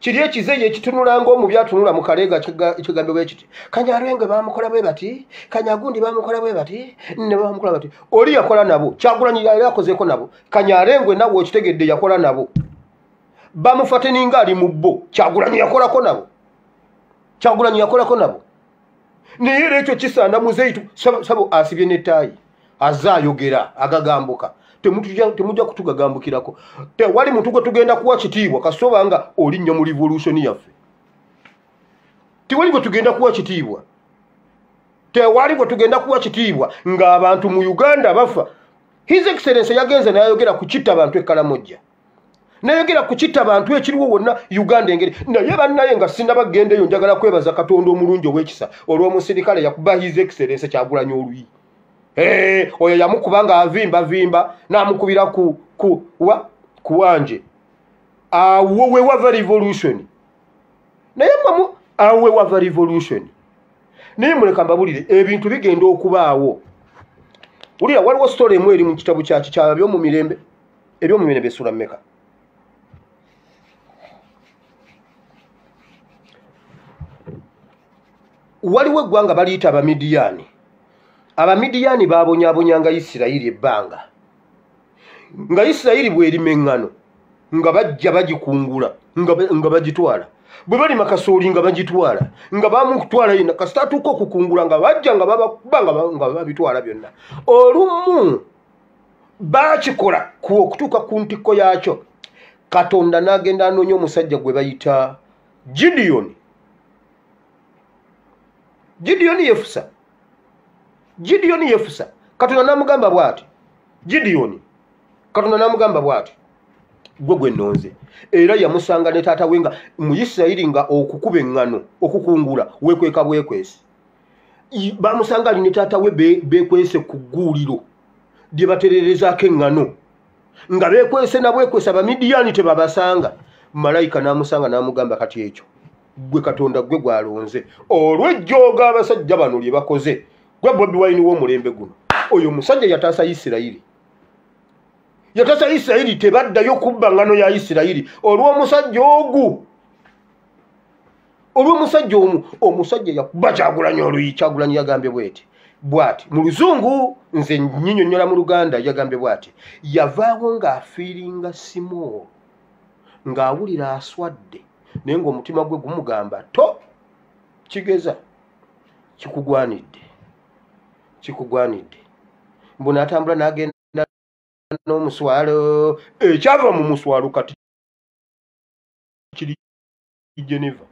kiri ekizeyi ekitunulanga omubi atunula mu kaleega ekigambo bwe kiti kanyarwenge bamukola bwe bati kanyagundi bamukola bwe bati ne bamukola bati oli yakola nabo kyagulanyi yali akozeeko nabo kanyarengwe nawe okitegedde yakola nabo bamufateninga ali mu bo kyagulanyi yakolako nabo kyagulanyi yakolako nabo naye era ekyo kisaana muzeyitu sabo asibye netaayi aze ayogera agagambuka temujja kutugagambukirako tewali muntu gwe tugenda kuwa kitiibwa kasitoba nga olinnya mu revolution yaffe tewali gwe tugenda kuwa kitiibwa tewali gwe tugenda kuwa kitiibwa ng'abantu mu uganda bafa his excellence yagenze nayayogera ku kitta bantu ekkalamojja nayogera kukita bantu ekiriwo wonna uganda engeri naye bannaye nga sinabagendeyo njagala kwebaza katonda omulungi owekisa olwomusirikale yakuba his excellence kyagulanya oluyi eh, oyo yamukuba nga avimba vimba namukubira kuwanje awo wewava revolution naye mamu awo wewava revolution naye muleka mbabulire ebintu bigenda okubaawo wulira waliwo story emu eri mu kitabu kyaki kyababyomumirembe ebyomumene byesula meka waliwo eggwanga baliyita abamidiyaani abamidiyaani babonyabonyanga isirayiri ebbanga nga isirayiri bwerima eŋŋano nga bajja bagikungula nga bagitwala bwe balima kasooli nga bagitwala nga bamukutwala yina kasita atuuka okukungula nga bajja nga babitwala byonna olumu baakikola ku okutuuka ku ntikko yaakyo katonda n'agenda anoonya omusajja gwe bayita gidiyoni gidiyoni yefusa gidiyoni yefusa katonda n'amugamba bw'ati gidiyoni katonda n'amugamba bw'ati gwe gwe nonze era yamusanga ne taata we nga mu isirayiri nga okukuba eŋŋano okukungula wekweka bwekwesi bamusanga ali ne taata we bekwese ku gguuliro lye batererezaako eŋŋano nga bekwese nabwekwesa bamidiyaani tebabasanga malayika n'amusanga n'amugamba kati ekyo gwe katonda gwe gwalonze olwejjooga abasajja bano lye bakoze gwe bobi wayini w'omulembe guno oyo omusajja yataasa isirayiri yataasa isirayiri tebaddayo kubba ŋŋano ya isirayiri olw'omusajja ogu olwomusajja omu omusajja yakuba kyagulanyi oluyi kyagulanyi yagambye bweti bwati mu luzungu nze nyinyonyola mu luganda yagambye bwati yavaawo ng'afiiringa simoolo ng'awulira aswadde naye ng'omutima gwe gumugamba to kigeza kikugwanidde kikugwanidde mbu natambula nagenda n'omuswalo ekyava mu muswalo kati kiri geneva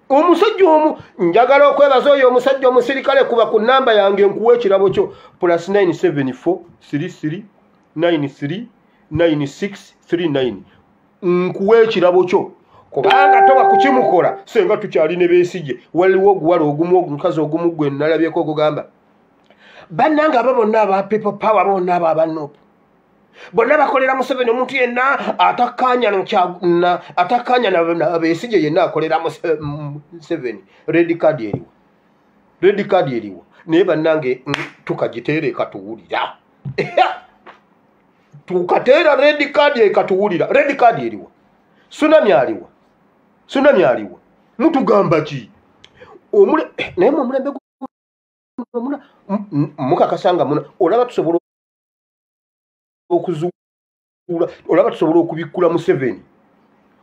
omusajja omu njagala okwebaza oyo omusajja omusirikale kuba ku namba yange nkuwa ekirabo kyo plus 974339369 nkuwa ekirabo kyo kubanga toba kukimukola senga tukyali ne besigye waliwo oguwala ogumu omukazi ogumu gwe nalabyeko ogugamba bannanga abo bonna aba people power bonna abo abanupu bonna bakolera museveni omuntu yenna atakanya atakanya nabesije yenna akolera eh, museveni red card eriwa red card eriwa naye bannange mm, tukagiteera ekatuwulira tukateera red card ekatuwulira red card eriwa sunami aliwa sunami aliwa mutugamba ki eh, naye mwe omulembe mukakasanga muna olaba tusobola okuzuula olaba tusobola okubikkula museveni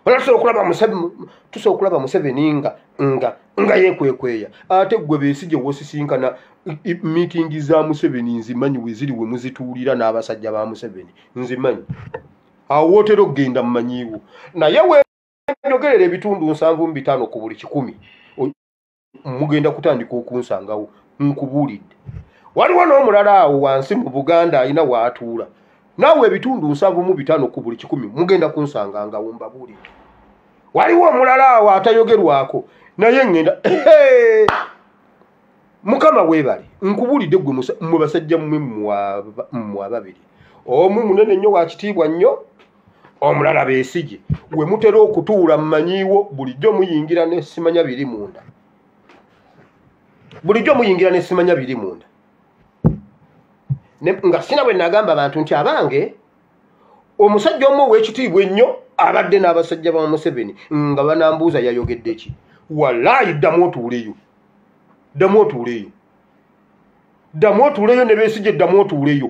olaba tusobola okulaba tusobola okulaba museveni nga nga nga yekwekweya ate gwe bensi gye wosisinkana miitingi za museveni nzimanyi weziri we muzituulira n'abasajja ba museveni nzimanyi awo wootera okugenda mumanyiiwo naye we njogerera ebitundu nsanvu mu bitaano ku buli kikumi mugenda kutandika okunsangawo nkubuulidde waliwo n'omulala awo wansi mu buganda alina waatuula naawe ebitundu nsanvu mu bitaano ku buli kikumi mugenda kunsangangawo mbabuulidde waliwo omulala awo atayogerwako naye ŋŋenda mukama weebale nkubuulidde gwe mwe basajja mmwe mmwe ababiri omu munene nnyo wakitiibwa nnyo omulala besigi we mutera okutuula mumanyiiwo bulijjo muyingira nesimanya biri munda bulijjo muyingira nesimanya biri munda nga sina bwe nagamba abantu nti abange omusajja omu owekitiibwa ennyo abadde n'abasajja ba museveni nga banambuuza yayogedde ki walaayi ddamu otuuleyo ddamu otuuleyo ddamu otuuleyo ne besigi eddamu otuuleyo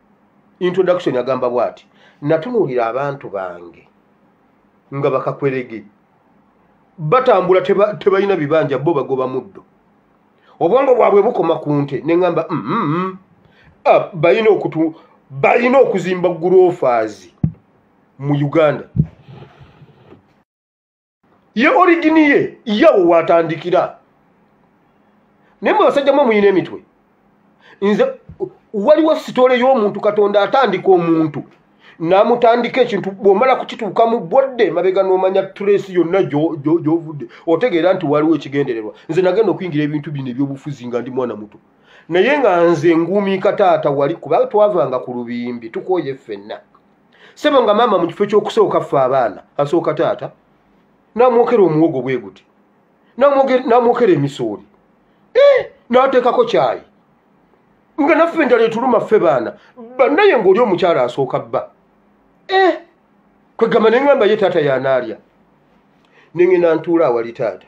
introduction agamba bwati natunuulira abantu bange nga bakakwerege batambula tebalina bibanja bo bagoba muddo obwongo bwabwe bukoma ku nte ne ŋamba mm, mm, mm. Ah, balina okutu balina okuzimba gurofaazi mu uganda ye origini ye yawo watandikira naye mwe basajja mwe muyina emitwe nze waliwo sitole y'omuntu katonda atandika omuntu namutandika ekintu bwomala kukituuka mu bodde mabega nomanya trace yonna gyovudde otegeera nti waliwo ekigendererwa nze nagenda okuyingira ebintu bino ebyobufuzi nga ndi mwana muto naye nga nze nguumiika taata wali kuba twavanga ku lubimbi tukooye ffenna sebo nga maama mu kifo ky'okusooka ffe abaana asooka taata namwokera omuwogo bwe guti namwokera emisooli eh, nateekako kyayi nga naffe endala etuluma ffe baana banaye ngaoli omukyala asooka bba eh, kwegamba neŋamba ye taata yanaalya neŋena ntuula awali taata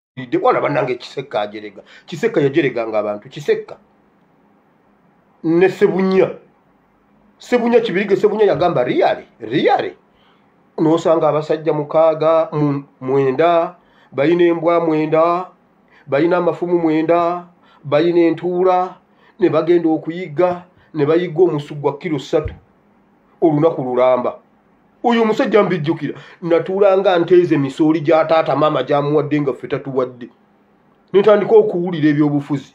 de bwana banange kisekka ajerega kisekka yajerega nga abantu kisekka ne sebunya sebunya kibirige sebunya yagamba riyale riyale nosanga abasajja mukaaga mwenda bayina embwa mwenda bayina amafumu mwenda bayina entuula ne bagenda okuyigga ne bayigga omusu gwa kiro ssatu olunaku lulamba oyo omusajja mbijjukira natuulanga nteeze misooli gya taata maama gyamuwadde nga ffe tatuwadde nentandika okuwulira ebyobufuzi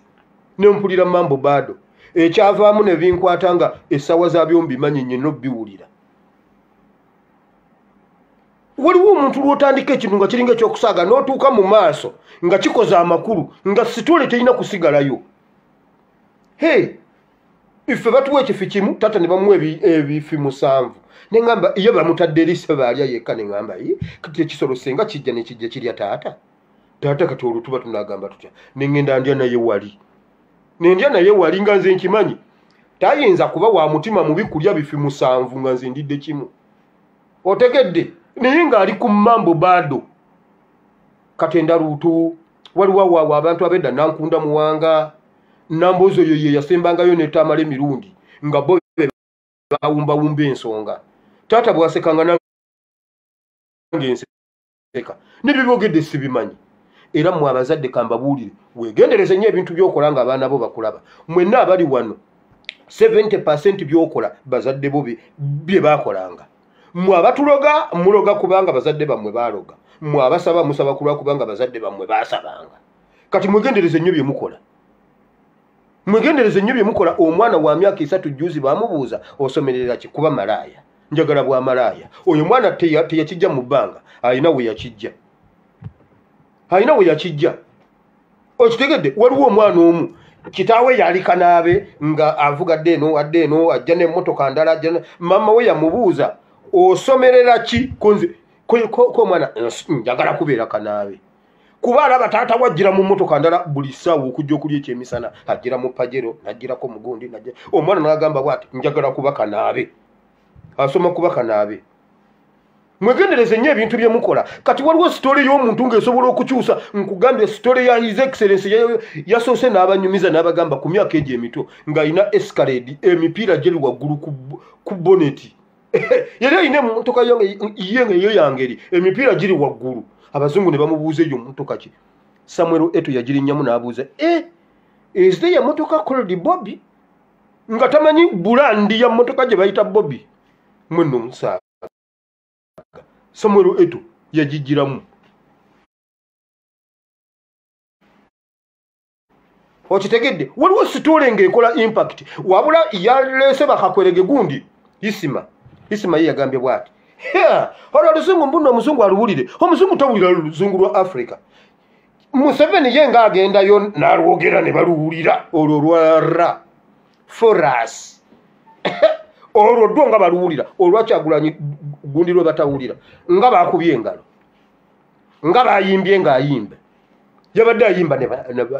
nempulira mambo baado ekyavaamu ne binkwata nga essaawa za byombimanyi nyo nobiwulira waliwo omuntu lwotandika ekintu nga kiringa ekyokusaaga notuuka mu maaso nga kikoze amakulu nga sitole terina kusigalayo he hey. ife batuwa ekifi kimu tata ne bamuwa ebifi musanvu ne ŋamba iyo bamutadde eri sebe alya yekka ne ŋamba yi kati ekisolo senga kijja ne kijja kirya taata taata kati olutuba tunagamba tutya ne ŋenda ndya naye wali ne ndya naye wali nga nze nkimanyi tayinza kuba wa mutima mubi kulya bifi musanvu nga nze ndidde kimu otegedde naye ng'ali ku mambo baado katenda luutu waliwo awawa abantu abedda nankunda muwanga nambozi oyo ye yasembangayo netamala emirundi nga bo bawumbawumba ensonga taata bwasekanga nangeenseka nebyebogedde sibimanyi era mwe abazadde kambabuulire wegendereze nyo ebintu byokola nga abaana bo bakulaba mwenna abali wano 70 percent byokola bazadde bo bye bakolanga mwe abatuloga muloga kubanga bazadde bammwe baloga mwe abasaba musaba kulwakubanga bazadde bammwe basabanga kati mwegendereze nnyo byemukola mwegendereze nnyo byemukola omwana wa myaka esatu juzi bamubuuza osomerera ki kuba malaaya njagala bwa malaaya oyo mwana teyakijja mu bbanga alina we yakijja alina we yakijja okitegedde waliwo omwana omu kitaawe yali kanaabe nga avuga adde eno adde eno ajja n'emmotoka ndala ajja maama we yamubuuza osomerera ki konze ko omwana njagala kubeera kanaabe kuba alaba taata wajjira mu motoka ndala buli ssaawa okujja okulya ekyemisana ajjira mu pajero najjirako mugundi najja omwana nagamba bwati njagala kuba kanaabe asoma kuba kanaabe mwegendereze nnyo ebintu bye mukola kati waliwo sitole y'omuntu ng'esobola okukyusa nkugambye sitole ya his excellence yasoose n'abanyumiza n'abagamba ku myaka egyo emito ng'alina escalade emipiira gyeri waggulu ku boneti yali alina emotoka ye nga eyo yangeri emipiira giri waggulu abazungu ne bamubuuza eyo motoka ki samuel eto yagirinyamu n'abuuza e eh, ezite ya motoka cold bobi nga tamanyi bulandi ya motoka gye bayita bobi mweno omusaaga samuel eto yagigiramu okitegedde waliwo sitole ngaekola impact wabula yaleese bakakwerege gundi isima isima ye yagambye bwati olwo oluzungu mbuno omuzungu aluwulire omuzungu towulira oluzungu lwa africa museveni ye nga agendayo nalwogera ne baluwulira olwo lwara foras olwo dwo nga baluwulira olwakyagulanyi gundi lwe batawulira nga bakubye engalo nga bayimbye ngaayimbe yabadde ayimba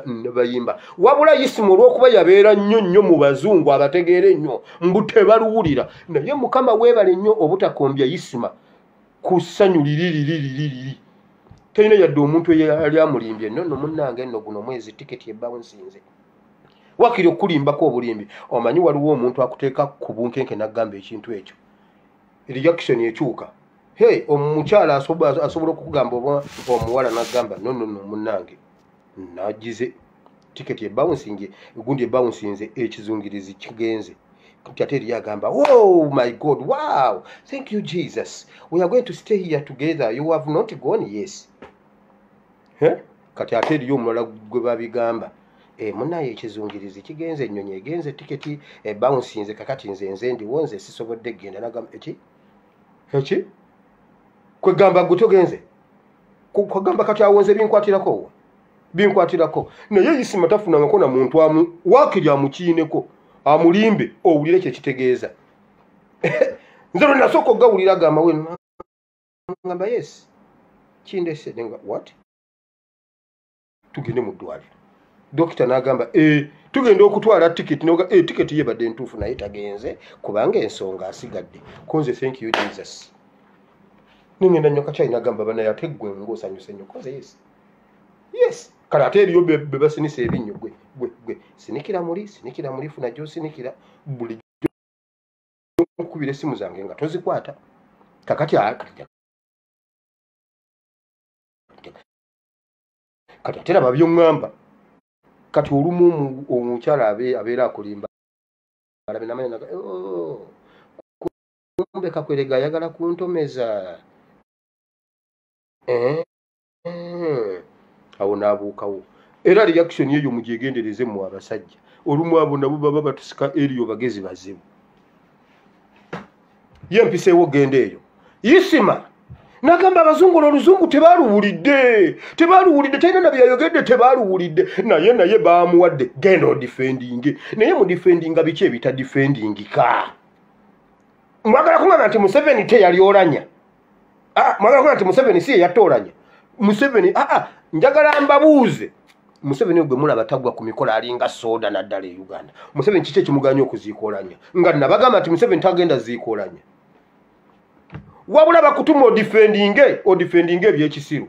nebayimba wabula isimu olwokuba yabeera nnyo nnyo mu bazungu abategeera ennyo mbu tebaluwulira naye mukama weebale nnyo obutakombya isima ku ssanyu liririririri talina yadde omuntu eyali amulimbye no no munange no guno mwezi tiketi ebawunsinze wakiri okulimbako obulimbi omanyi waliwo omuntu akuteeka ku bunkenke n'agamba ekintu ekyo reaction ekyuka hey omukyala asobola okukugamba oba omuwala nagamba nonono munange nagize tiketi ebawunsinge egundi ebawunsinze ekizungirizi kigenze kati ate eriyo agamba o oh my god wow thank you jesus we are going to stay here together you have not gone yes eh? kati ate eriyo omulala gwe babigamba eh, munaye ekizungirizi kigenze ennyonyi egenze tiketi ebawunsinze kakati nze nze ndiwo nze sisobodde kugenda nagamba eki eki kwegamba gwe togenze kwegamba kati awonze binkwatirako wo binkwatirako naye isima tafunangako na muntu amu wakiri amukiineko amulimbe owulire kyekitegeeza nze lwe nasooka okugawulira agamba we ngamba yes kindese nenga what tugende mu ddwaliro dokita n'agamba eh, tugenda okutwala tiketi noga eh, tiketi yebadde ntuufu naye tagenze kubanga ensonga asigadde kunze thank you jesus nengenda nyo kakyayi nagamba banaye ate gwe ngaosanyuse nyo koze yes yes kale ate eriyo bebasinisa ebinnyo gwe gwe gwe sinikira muli sinikira muli funa gyosinikira buli okukubira essimu zange nga tozikwata kakati kati ate laba byoŋŋamba kati olumu omukyala abeera akulimba alabe namanya naga oh, kumbe kakwerega ayagala kuntomeza eh, eh. awo naabuukawo era reaction eyo mugyegendereze mu abasajja olumu abo nabo baba batusika eriyo bagezi bazibu ye mpiseewo genda eyo isima nagamba abazungu no oluzungu tebaluwulidde tebaluwulidde talina na byeyayogedde tebaluwulidde naye naye bamuwadde genda odifendinge naye mudifendinga biki ebitadifendingika mwagala kungamba nti museveni teyali olanya Ah, mwagala kuba nti museveni si yeyatoolanya museveni aa ah, ah, njagala mbabuuze museveni ogwe mulaba tagwa ku mikolo alinga soda naddala e uganda museveni kiki ekimuganya okuziikolanya nga nabagamba nti museveni tagenda ziikolanya wabula bakutuma odifendinge odifendinge ebyekisiru